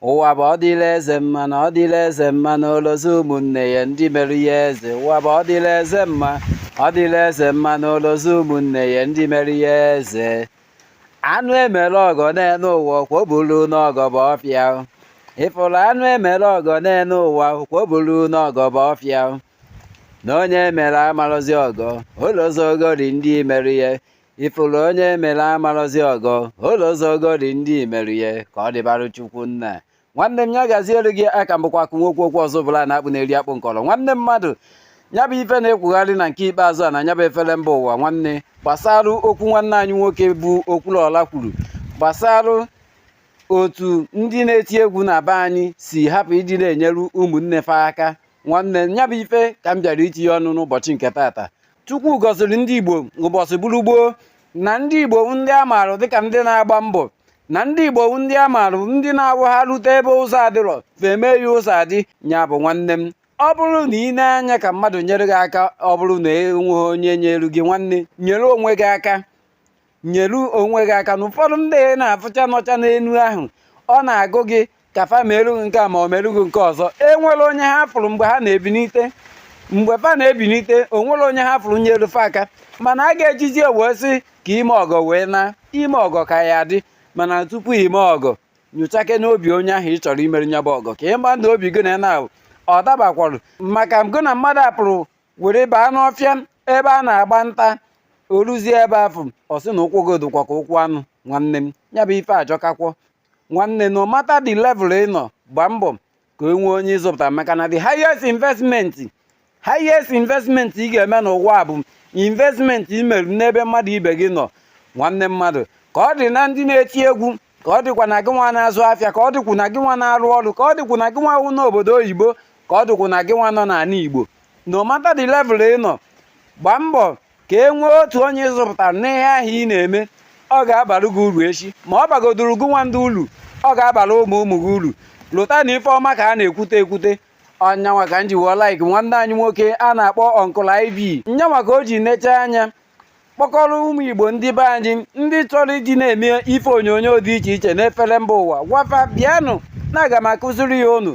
ụwa bụ ọ dịla eze mma na ọ dịla eze mma na olozi ụmụnne ya ndị mere ya eze ụwa bụ ọ dịla eze mma ọ dịla eze mma na olozi ụmụnne ya ndị mere ya eze anụ emere ọgọ n'enu ụwa kwoburu n'ọgọ bụ ọfịa ịfụrụ anụ emere ọgọ n'enu ụwa kwoburu n'ọgọ bụ ọfịa na onye mere amarọzi ọgọ olozi ogori ndị mere ya ịfụrụ onye mere amarọzi ọgọ olozi ogori ndị mere ya ka ọ dịbarụ chukwu nna nwanne m ya gaziere gị aka m bụkwa akụ nwoke okwu ọzọ bụla na-akpụ na-eri akpụ nkọrọ nwanne mmadụ ya bụ ife na-ekwugharị na nke ikpeazụ a na ya bụ efere mba ụwa nwanne gbasara okwu nwanne anyị nwoke bụ okwuluọla kwuru gbasara otu ndị na-eti egwu na be anyị si hapụ ịdị na-enyere ụmụnne fa aka nwanne ya bụ ife ka m bịara itinye ọnụ n'ụbọchị nke tata chukwu gọziri ndị igbo ụbọchị bụrụ gboo na ndị igbo ndị a maara dịka ndị na-agba mbọ na ndị igbo ndị a maara ndị na-awụ ha rute ebe ụzọ adịrọ fa emee ya ụzọ adị nya bụ nwanne m ọ bụrụ na ị ne anya ka mmadụ nyere gị aka ọ bụrụ na enweghị onye nyere gị nwanne nyere onwe gị aka nyere onwe gị aka na ụfọdụ ndị na-afụcha nọcha n'elu ahụ ọ na-agụ gị ka fa meru gị nke a ma ọ meru gị nke ọzọ enwere onye ha fụrụ mgbe ha na-ebinite mgbe fa na-ebinite onwere onye ha fụrụ nyere fa aka mana a ga-ejizi wee sị ka ime ọgọ wee naa ime ọgọ ka ya-adị mana tupu ime ọgọ nyochakene obi onye ahụ ị chọrọ imere nya bụ ọgọ ka ị ma na obi gị na na ọ dabakwara maka gị na mmadụ apụrụ were baa n'ọfịa ebe a na-agba nta o ruzie ebe afụ ọ sị na ụkwụ gị dịkwa ka ụkwụ anụ nwanne m ya bụ ife ajọkakwọ nwanne no matter the level ị nọ gbaa mbọ ka e nwee onye ị zụpụta maka na the highest investment highest investment ị ga-eme n'ụwa bụ investment i mere n'ebe mmadụ ibe gị nọ nwanne mmadụ ka ọ dị na ndị na-eti egwu ka ọ dịkwa na gị nwa na-azụ afịa ka ọ dịkwu na gị nwa na-arụ ọrụ ka ọ dịkwu na gị nwa wụ n'obodo oyibo ka ọ dịkwu na gị nwa nọ n'ana igbo no matter the level ị nọ gbaa mbọ ka e nwee otu onye ị zụpụtara n'ihe ahụ ị na-eme ọ ga-abara gị uru echi ma ọ bagodoro gị nwa ndị uru ọ ga-abara ụmụ ụmụ gị uru lota na ife ọma ka a na-ekwute ekwute ọ nya nwa ka m ji wee like nwanne anyị nwoke a na-akpọ uncle iv nya nwa ka o ji necha anya kpọkọrọ ụmụ igbo ndị be anyị ndị chọrọ iji na-eme ife onyonyo dị iche iche n'efere mba ụwa gwa fa bịanụ na aga m akụziri ya unu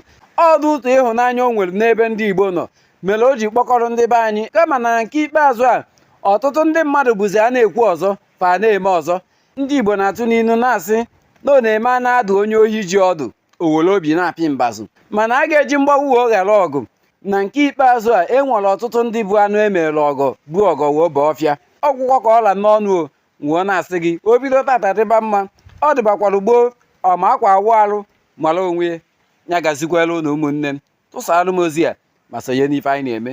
ọ bụ ụtọ ịhụnanya o nwere n'ebe ndị igbo nọ mere o ji kpọkọrọ ndị be anyị kama na nke ikpeazụ a ọtụtụ ndị mmadụ bụzi a na-ekwu ọzọ fa na-eme ọzọ ndị igbo na-atụ n'inu na-asị na ọ na-eme a na-adụ onye ohi ji ọdụ o were obi na-apị mbazụ mana a ga-eji mgbagbu wee ghara ọgụ na nke ikpeazụ a e nwere ọtụtụ ndị bụ anụ e mere ọgọ bu ọgọ wee baa ọfịa ọ gwụkwa ka ọ ra n'ọnụ o wee na-asị gị o bido tata dịba mma ọ dịbakwara gboo ọma akwa awụ arụ mara onwe ya gazikwara ụnụ ụmụnne m tụsara m ozi a ma sonye n'ife anyị na-eme